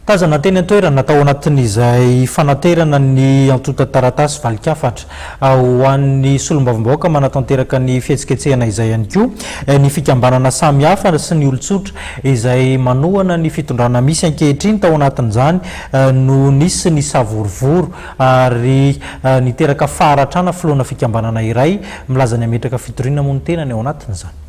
Tazana teny an-toerana tao anatin'izay fanaterana ny antontan-taratasy valin-kafatra ho an'ny solombavambahoaka manatanteraka ny fihetsiketsehana izay ihany koa ny fikambanana samihafa sy ny olon-tsotra izay manohana ny fitondrana misy ankehitriny. Tao anatin'izany no nisy ny savorovoro ary niteraka faharatrana filoana fikambanana iray milaza ny hametraka fitoriana moa ny tenany ao anatin'izany.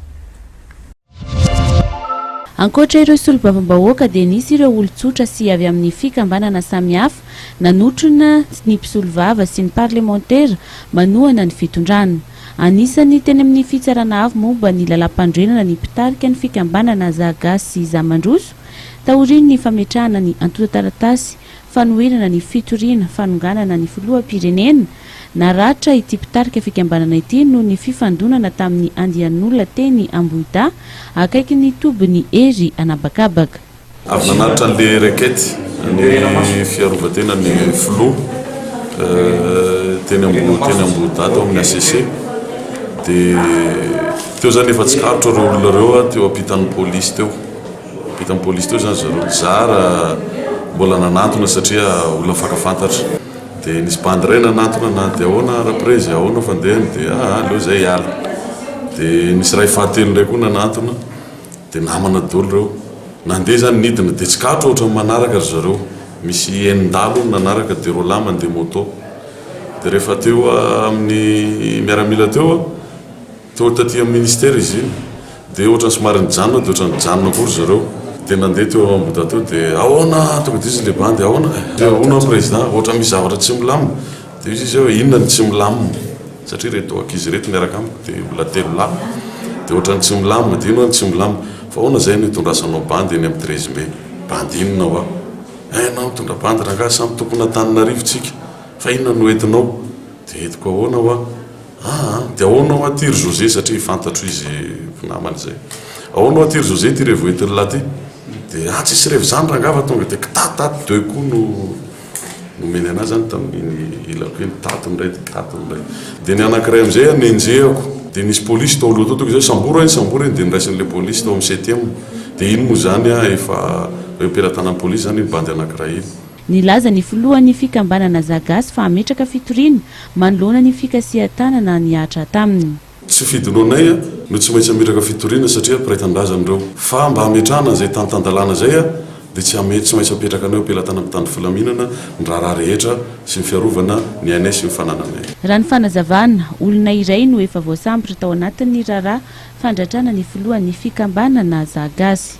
Ankoatra ireo solombavambahoaka dia nisy ireo olon-tsotra sy avy amin'ny fikambanana samihafa nanotrona ny mpisolovava sy ny parlemantera manohana ny fitondrana. Anisan'ny teny amin'ny Fitsarana Avo momba ny Lalàmpanorenana ny mpitarika ny fikambanana Za Gasy Za Mandroso taorian'ny fametrahana ny antontan-taratasy fanoherana ny fitoriana fanonganana ny filoham-pirenena. Naratra ity mpitarika fikambanana ity noho ny fifandonana tamin'ny andian'olona teny Ambohidahy, akaikin'ny tobin'i Hery an'habakabaka. Avy nanatitra an'ilay racket ny fiarovantenan'ny filoha teny Ambohidahy tao amin'ny HCC. Dia teo izany efa tsikaritro ireo olona ireo teo ampitan'ny polisy teo. Teo tamin'ny polisy teo izany zareo mpizara mbola nanantona satria olona fankafantatra. Dia nisy bandy iray nanantona na dia ahoana raprezy, ahoana fandehany dia aa aleo izay hiala. Dia nisy iray fahatelo indray koa nanantona dia namana daholo ireo. Nandeha izany nidina dia tsy kato ohatran'ny manaraka ry zareo. Misy enin-dahalo hono nanaraka dia roalahy mandeha moto. Dia rehefa teo amin'ny miaramila teo. Toa taty amin'ny ministera izy iny dia ohatrany somary nijanona dia ohatrany nijanona koa ry zareo dia nandeha teo amboda teo dia ahoana tonga dia izy ilay bandy ahoana eh? dia ahoana président ohatrany misy zavatra tsy milamina dia hoy izy hoe inona no tsy milamina satria ireto ankizy ireto miaraka amiko dia mbola telo lahy dia ohatrany tsy milamina dia ino hoy aho ny tsy milamina fa ahoana izay no hitondrasanao bandy eny amin'ny treize mai? bandy inona hoa? eh ianao mitondra bandy rangahy samy tompon'Antananarivo tsika fa inona no hoentinao? Dia entiko ahoana hoa? Aa! Dia ahoana hoa ty ry José satria fantatro izy mpinamana izay. Ahoana hoa ty ry José ty revo entin'i lahy ty? Dia aa! tsisy revo izany rangava tonga dia kta ta deux coups no nomeny an'ahy izany tamin'iny ilako iny, tato indray dia tato indray. Dia ny anankiray amin'izay a nenjehako. Dia nisy polisy tao aloha tao tonga izay, sambory eny sambory eny dia noraisin'ilay polisy tao amin'ny septième. Dia iny moa izany a efa hoe pelatanan'ny polisy izany iny bandy anankiray iny. Nilaza ny filohan'ny fikambanana Zagasy fa hametraka fitoriana manoloana ny fikasihan-tanana nihatra taminy. Tsy fidonanay no tsy maintsy hametraka fitoriana satria mpiray tanindrazana ireo. Fa mba hametrahana an'izay tany tan-dalàna izay a, dia tsy hame, tsy maintsy hapetraka anay ho pelatanana mpitandro filaminana ny raharaha rehetra sy ny fiarovana ny ainay sy ny fanananay. Raha ny fanazavana, olona iray no efa voasambotra tao anatin'ny raharaha fandratrana ny filohan'ny fikambanana Zagasy.